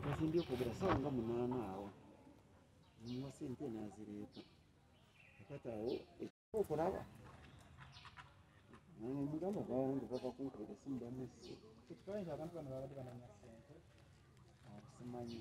nazimbye okwogera sawa nga munaana awo muwa sente nazireeta akati awo ekyokulaba mugamba bangi bava kunkolera simu bamesi kyetukawaita abantu bano babadde bananya sente akusimanyi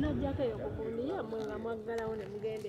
najjako eyo kukunia mwe nga mwaggalawo ne mugenda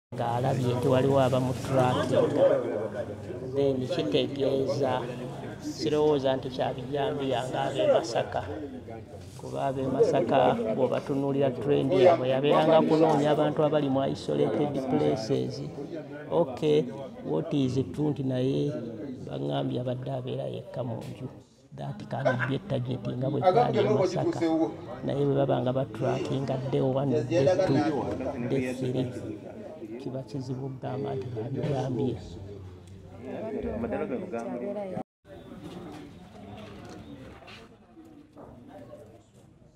ng'alabye nti waliwo abamutulakinga then kitegeeza sirowooza nti kyabijambiya ng'ab'e masaka kuba ab'e masaka bw'obatunuulira trendi yabwe yabeeranga kunoonya abantu abali mu isolated places ok what is true nti naye baŋambye abadde abeera yekka mu nju dati kandi bye tageti nga bwe kyali e masaka naye bwe baba nga batrakinga de one de two de three kiba kizibu okugamba nti babigambye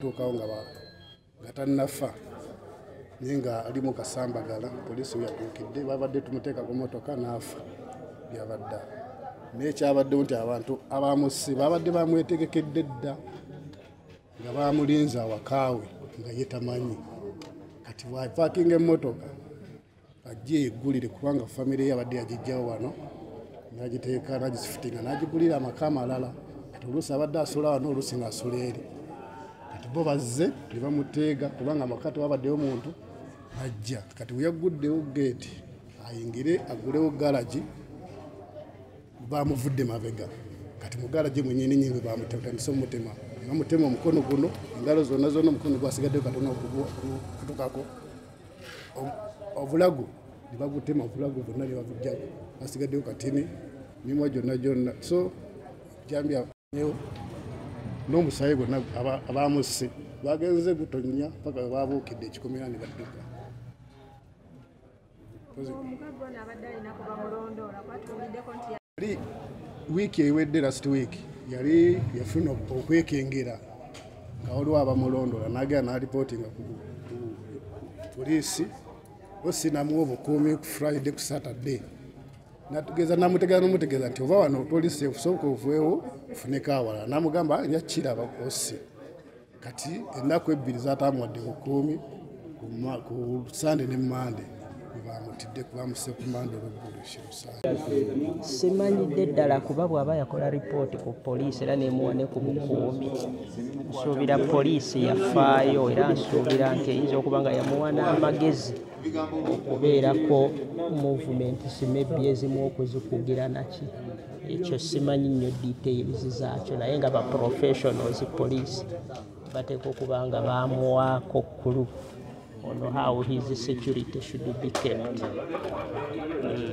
tuukawo nga nga tannafa naye nga ali mu kasambagala poliisi we yatuukidde babadde tumuteeka ku motoka n'afa byabadde naye kyabaddewo nti abantu abamusi babadde bamwetegekedde dda nga bamulinze awakaawe nga ye tamanyi kati bwapakinga emmotoka ajje yeggulire kubanga famire ye abadde yagijjawo wano nagiteeka nagisifitinga nagigulira amaka amalala kati oluusi abadde asula wano oluusi ngaasula eri kati bo bazze ne bamuteega kubanga amaka tewabaddeyo muntu ajja kati weyagguddewo geeti ayingire agulewo galagi bamuvudde mabega kati mugala gye mwenyini nyini bamutandise omutema bamutema omukono guno engalo zona zona omukono gwasigaddeo katona okutukako obulago nebagutema obulago bonna nebabujjago basigaddeo katini mimwa gyonna gyonna so jambya n'omusaayi gwonna abamusse bagenze gutonnya paka webabuukidde ekikomera ne badduka yali wiiki ewedde last week yali yafuna okwekengera nga waliwo abamulondola nagera nalipotinga ku poliisi osinamu obukuumi ku friday ku saturday natugeza namutegeza nomutegeza nti oba wano tolisi okusoboka ovuewo ofuneko awala namugamba yakiraba osi kati ennaku ebbiri zatamuwadde ku kuumi ku sande ne mande bamutidde kubamuse ku mande olweggulosimanyidde ddala kuba bw'aba yakola ripooti ku poliisi era nemuwa ne ku bukuumi nsuubira poliisi yafaayo era nsuubira nti eyinza okuba nga yamuwa n'amagezi okubeerako movumenti simebbi ezimu okuzikugira naki ekyo simanyi nnyo details zaakyo naye nga ba professionals police bateeka okuba nga baamuwaako kkulu on how his security should be kept mm.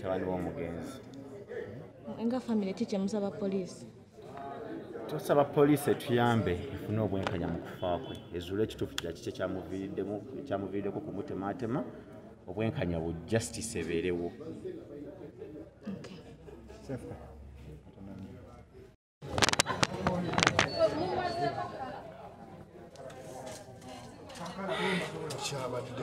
tabani womugenzi nga famire ki kyemusaba poliisi tusaba poliisi etuyambe efune obwenkanya mu kufa kwe ezuula ekituufu kira kiki ekyamuviiriddeko kumutematema obwenkanya bu justice ebeerewo kyabadde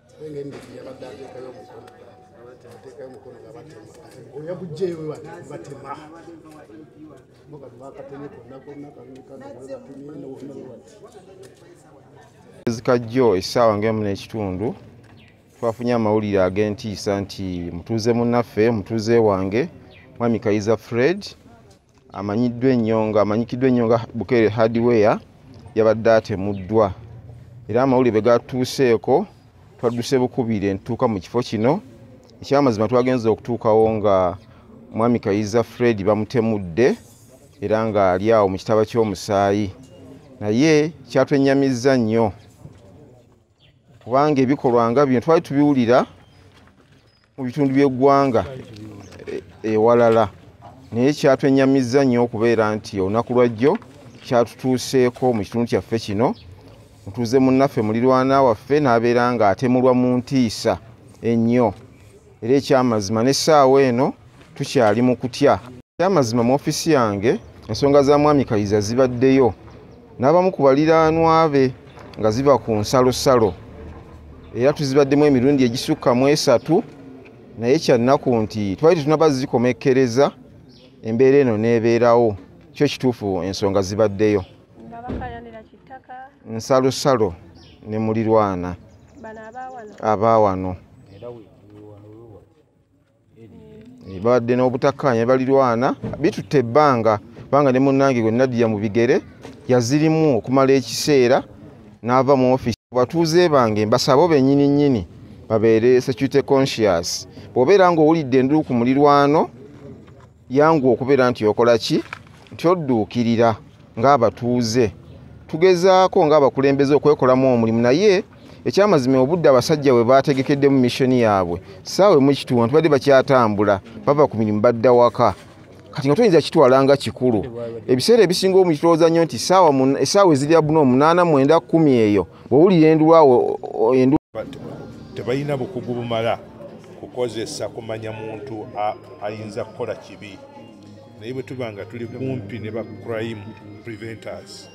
ezikajjo essaawa ngaemu n'ekitundu twafunye amawulire ag'entiisa nti mutuuze munnaffe mutuuze wange mwami kayiza fred amanyiddwa ennyo nga amanyikiddwa ennyo nga bukeere hardware yabadde atemuddwa era amawulire bwe gatuuseeko twadduse bukubire ntuuka mu kifo kino ekyamazima twagenza okutuukawo nga mwami kayiza fred bamutemudde era ng'ali awo mu kitaba ky'omusaayi naye kyatwennyamizza nnyo kubanga ebikolwa nga bino twali tubiwulira mu bitundu by'eggwanga e, ewalala naye kyatwenyamizza nnyo okubeera nti olunaku lwajjo kyatutuuseeko mu kitundu kyaffe kino mutuuze munnaffe mulirwana waffe n'abeera nga atemulwa mu ntiisa ennyo era ekyamazima n'essaawa eno tukyali mu kutya ekyamazima mu ofiisi yange ensonga za mwami kayiza zibaddeyo n'abamu ku baliraanwa be nga ziva ku nsalosalo era tuzibaddemu emirundi egisukka mu esatu naye kyannaku nti twali tetunaba zikomekkereza embeera eno n'ebeerawo kyo kituufu ensonga zibaddeyo nsalosalo ne mulirwana abaawano eh, babadde n'obutakkaanya balirwana bitutte ebbanga kubanga ne munnange gwe nadiya mu bigere yazirimu okumala ekiseera n'ava mu ofisi batuuze bange mbasabo bennyini nnyini babeere security conscious bw'obeera ng'owulidde enduku mulirwano yangu okubeera nti okola ki nti odduukirira ng'abatuuze tugezaako ng'abakulembeze okwekolamu omulimu naye ekyamazima obudde abasajja bwe baategekeddemu missioni yaabwe saawe mukituwa nti badde bakyatambula bava ku mirimu badda waka kati nga tuyinza kitwala nga kikulu ebiseera ebisinga omukitowooza nnyo nti esaawa ezirya buna omunaana mwenda kumi eyo bwowulira endulwawo tebalina bukugu bumala kukozesa kumanya muntu ayinza kukola kibi naye bwe tuba nga tuli kumpi ne ba crime preventers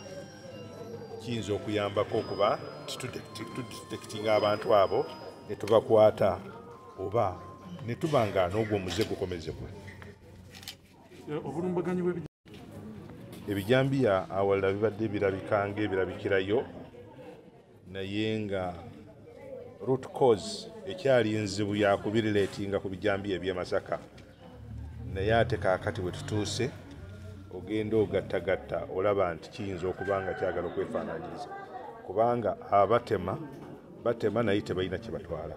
kiyinza okuyambako okuba titudetekitinga abantu abo ne tubakwata oba ne tuba nga n'ogwo omuze gukomezebwa ebijambiya awalala bibadde birabika ngaebirabikirayo naye nga root cause ekyali nzibu yakubiriletinga ku bijambiya ebyemasaka naye ate kakati bwetutuuse ogenda ogattagatta olaba nti kiyinza okuba nga kyagala okwefaananyiriza kubanga abatema batema naye tebalina kyebatwala